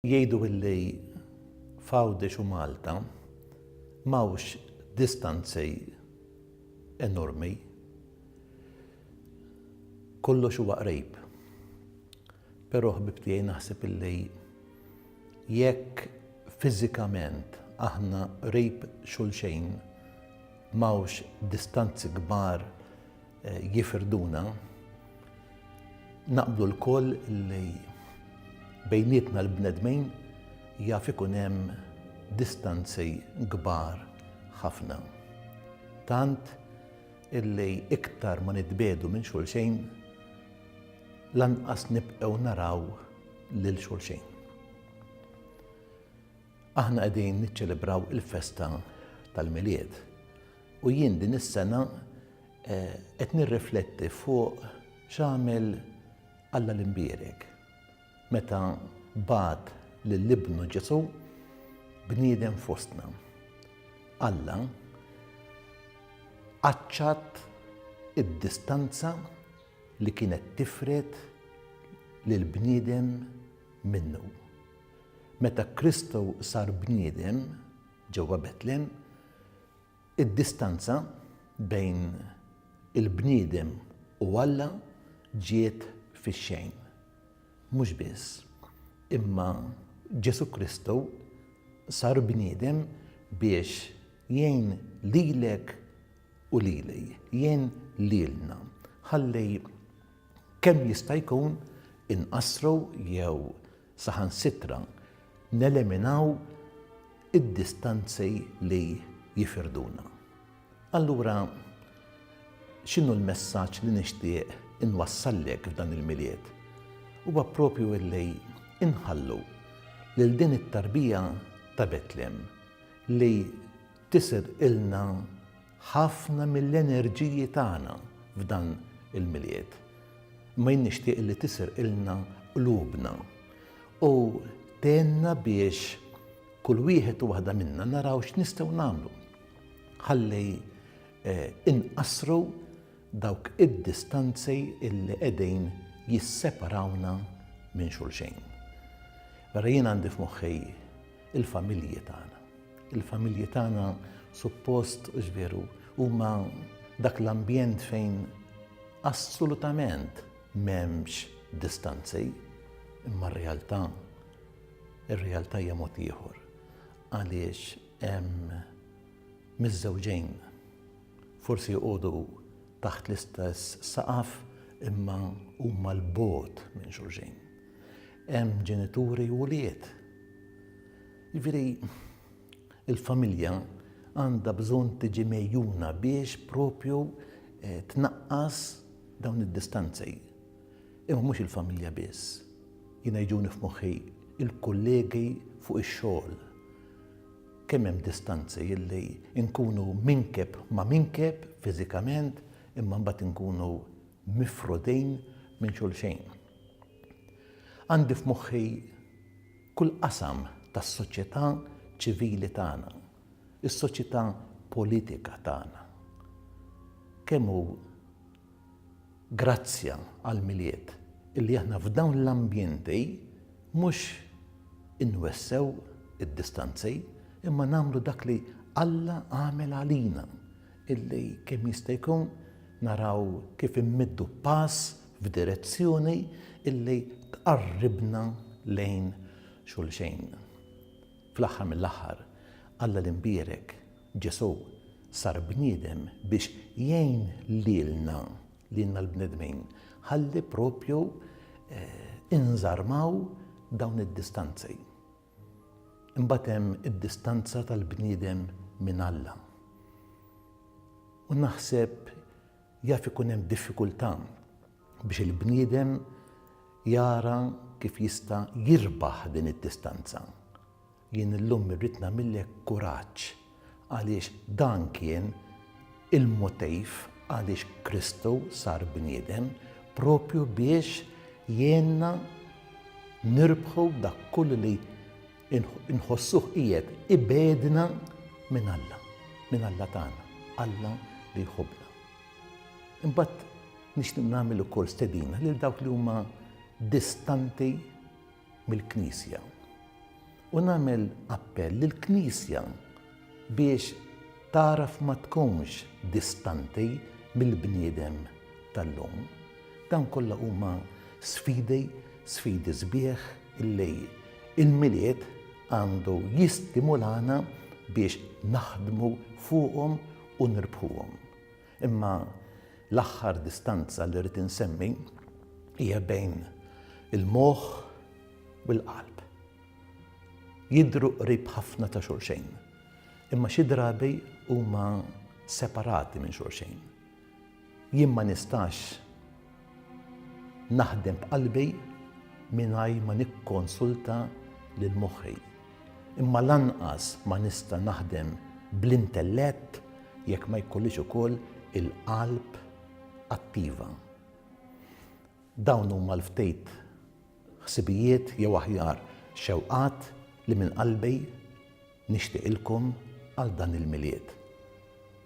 Jgħidu illi f'Għawdex u Malta m'hawnx distanzi enormi. Kollox huwa qrib. Però ħbib tiegħi naħseb illi jekk fiżikament aħna qrib xulxejn m'hawnx distanzi kbar jifirduna, naqblu l-koll li bejnietna l-bnedmin jaf ikun hemm distanzi kbar ħafna. Tant illi iktar ma nitbedu minn xulxejn, lanqas nibqgħu naraw lil xulxejn. Aħna qegħdin niċċelebraw il-festa tal-milied. U jien din is-sena qed nirrifletti fuq x'għamel Alla l-Imbierek meta bagħat lil Ibnu Ġesù bniedem fostna. Alla qaċċat id-distanza li kienet tifred lill-bniedem minnu. Meta Kristu sar bniedem, Ġewwa Betlehem, id-distanza bejn il-bniedem u Alla ġiet fix-xejn. Mhux biss, imma Ġesù Kristu sar bniedem biex jgħin lilek u lili, jgħin lilna, ħalli kemm jista' jkun inqassru jew Saħansitra neleminaw id-distanzi li jifirduna. Allura, x'inhu l-messaġġ li nixtieq inwassallek f'dan il-Milied? Huwa proprju illi inħallu lil din it-tarbija ta' Betlem li tisirqilna ħafna mill-enerġiji tagħna f'dan il-Milied. Imma jien nixtieq li tisirqilna qlubna u tgħinna biex kull wieħed u waħda minna naraw x'nistgħu nagħmlu ħalli eh, inqassru dawk id-distanzi illi qegħdin jisseparawna minn xulxejn. Vera jien għandi f'moħħi il-familji tagħna. Il-familji tagħna suppost u x'veru huma dak l-ambjent fejn assolutament m'hemmx distanzi, imma r-realtà ir-realtà hija mod ieħor għaliex hemm miż-żewġejn forsi jqogħdu taħt l-istess saqaf imma huma l-bot minn xulxin. Hemm ġenituri u wlied. Jiġifieri, il-familja għandha bżonn tiġi megħjuna biex propju tnaqqas dawn id-distanzi. Imma mhux il-familja biss. Jiena jiġuni f'moħħi l-kollegi fuq ix-xogħol. Kemm hemm distanzi illi nkunu minkeb ma' minkeb fiżikament imma mbagħad inkunu mifrudin minn xulxin. Għandi f'moħħi kull qasam tas-soċjetà ċivili tagħna, is-soċjetà politika tagħna. Kemm hu grazzja għall-Milied illi aħna f'dawn l-ambjenti mhux inwessew id-distanzi imma nagħmlu dak li Alla għamel għalina illi kemm jista' jkun naraw kif immiddu pass f'direzzjoni li tqarribna lejn xulxin. Fl-aħħar mill-aħħar, Alla l-imbierek, Ġesù, sar bniedem biex jgħin lilna, lilna l-bnedmin, ħalli proprju inżarmaw dawn id-distanzi. Imbagħad hemm id-distanza tal-bniedem minn Alla. U naħseb jaf ikun hemm diffikultà biex il-bniedem jara kif jista' jirbaħ din id-distanza. Jien illum irrid nagħmillek kuraġġ għaliex dan kien il-motiv għaliex Kristu sar bniedem, proprju biex jgħinna nirbħu dak kollu li nħossuh qiegħed ibegħdna minn Alla, minn Alla tagħna, Alla li jħobbna. Imbagħad nixtieq nagħmel ukoll stedina lil dawk li huma distanti mill-Knisja. U nagħmel appell lill-Knisja biex tagħraf ma tkunx distanti mill-bniedem tal-lum. Dawn kollha huma sfidi, sfidi sbieħ illi il-Milied għandu jistimulana biex naħdmu fuqhom u nirbħuhom. Imma l-aħħar distanza li rrid insemmi hija bejn il-moħħ u l-qalb. Jidhru qrib ħafna ta' xulxejn, imma xi drabi huma separati minn xulxejn. Jien ma nistax naħdem b'qalbi mingħajr ma nikkonsulta lil moħħi. Imma lanqas ma nista' naħdem bl-intellett jekk ma jkollix ukoll il-qalb attiva. Dawn huma l-ftit ħsibijiet jew aħjar xewqat li minn qalbi nixtieqilkom għal dan il-Milied.